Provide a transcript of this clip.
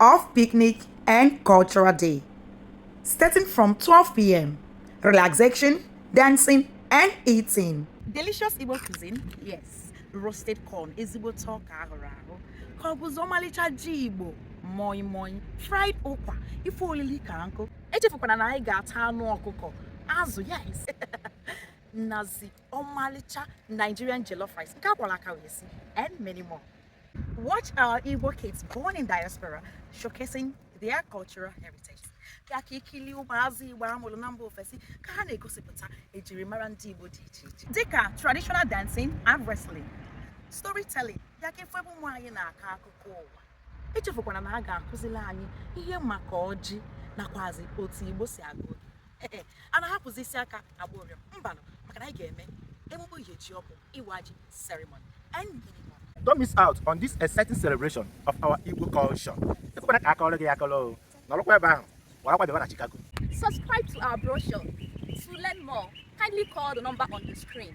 of picnic and cultural day. Starting from 12 p.m., relaxation, dancing, and eating. Delicious Igbo cuisine? Yes. Roasted corn, ezigbote ọka a hụrụ ahụ. Ka ọ bụzi ọmalịcha ji Igbo, moi moi, fried ụkwa, ife olili ka nkụ. Echefukwana na anyị ga-ata anụ ọkụkọ, azụ, yes. Nazi, ọmalịcha Nigerian jollof rice, nke a kwọrọ aka wee sie, and many more. Watch our Igbo kids born in diaspora showcasing their cultural heritage. bịa ka i kili ụmụazị Igbo a mụrụ na mba ofesi ka ha na-egosipụta ejirimara ndị Igbo dị iche iche dịka traditional dancing and wrestling storytelling bịa ka ị fụ ebe ụmụ anyị na-akọ akụkọ ụwa echefukwana na a ga-akụziri anyị ihe maka ọjị nakwazi otu Igbo si agọ ee a na-ahapụzi isi aka agba ụrịọ mbanụ maka na anyị ga-eme emume iri ji ọhụụ iwa ji ceremony and many more Don't miss out on this exciting celebration of our Igbo culture. Ekwekwana ka a kọọrọ gị ya akọrọ o. Nọrọkwa ebe ahụ, gbarakwa bịaba na Chicago. Subscribe to our brochure. To learn more, kindly call the number on the screen.